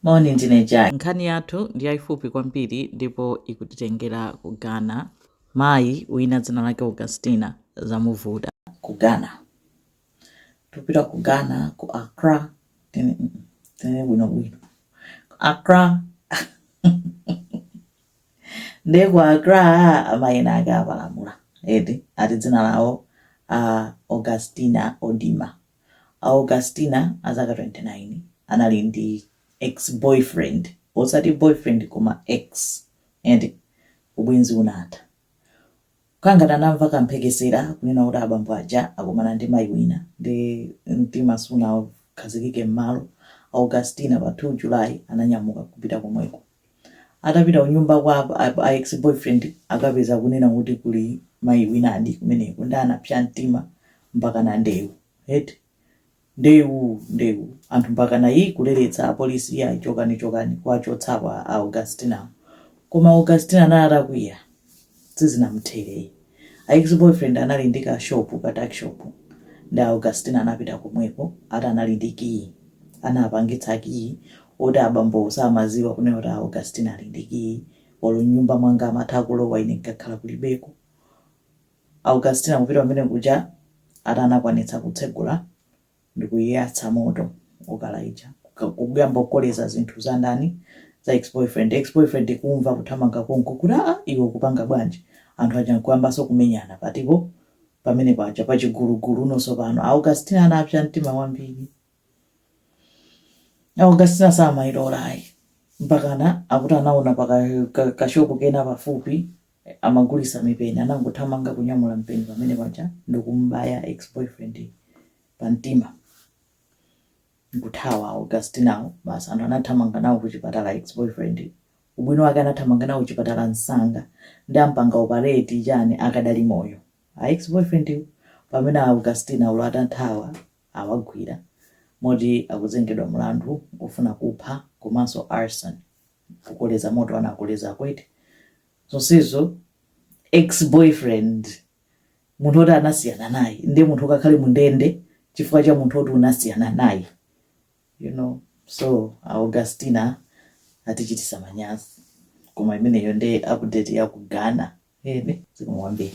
Moni, ndine Jay. Nkhani yathu ndi yaifupi kwambiri ndipo ikutitengera ku Ghana. Mayi wina dzina lake Augustina zamuvuta. Ku Ghana. Tipita ku Ghana, ku Accra. Tinene bwinobwino. Ku Accra. Ndiye ku Accra amayi ena ake apalamula. Eti, ati dzina lawo a Augustina Odima. Augustina azaka 29 anali ndi ex-boyfriend, osati boyfriend koma ex, eti? Ubwenzi unatha. Kangati anamva kamphekesera kunena kuti abambo aja akumana ndi mayi wina nde mtima sunakhazikike m'malo. Augustina pa 2 July ananyamuka kupita komweko. Atapita kunyumba kwa a ex boyfriend akapeza kunena kuti kuli mayi winadi kumeneko nde anapsa mtima mpakana ndewu eti ndewu ndewu anthu mpakana ii kuleretsa apolisi iyayi chokani chokani kuwachotsapo a Augustinawo koma Augustina anali atakwiya. Sizinamuthere yi. A ex boyfriend anali ndi ka shop ka tuck shop nde Augustina anapita komweko ati anali ndi key. Anapangitsa key oti abambowo samaziwa kunena kuti Augustina ali ndi key olo mnyumba mwanga amatha kulowa ine nkakhala kulibeko. Augustina kupita kumene kuja ati anakwanitsa kutsegula ndikuyatsa moto okala uja kuyamba kukoleza zinthu za ndani za ex boyfriend ex boyfriend kumva kuthamanga konko kuti aa iwe kupanga bwanji anthu aja nkuyambanso kumenyana patipo pamene paja pa chigulugulu nonso pano augustina anapsa mtima wambiri augustina samayilola ayi mpakana akuti anaona kashopu kena pafupi amagulisa mipeni anangothamanga kunyamula mpeni pamene paja ndikumubaya ex boyfriend pa mtima nkuthawa augustinawo basi anthu anathamanga nawo kuchipatala ex boyfriend ubwino wake anathamanga nawo kuchipatala msanga ndi ampanga operation chani akadali moyo a ex boyfriend pamene augustina olo atathawa awagwira moti akuzengedwa mlandu ofuna kupha komanso arson kukoleza moto anakoleza aku eti zonsezo ex boyfriend munthu oti anasiyana naye ndiye munthu ukakhale mundende chifukwa cha munthu oti unasiyana naye you know so augustina atichitisa manyazi koma imeneyo nde update ya ku ghana eti zikomo kwambiri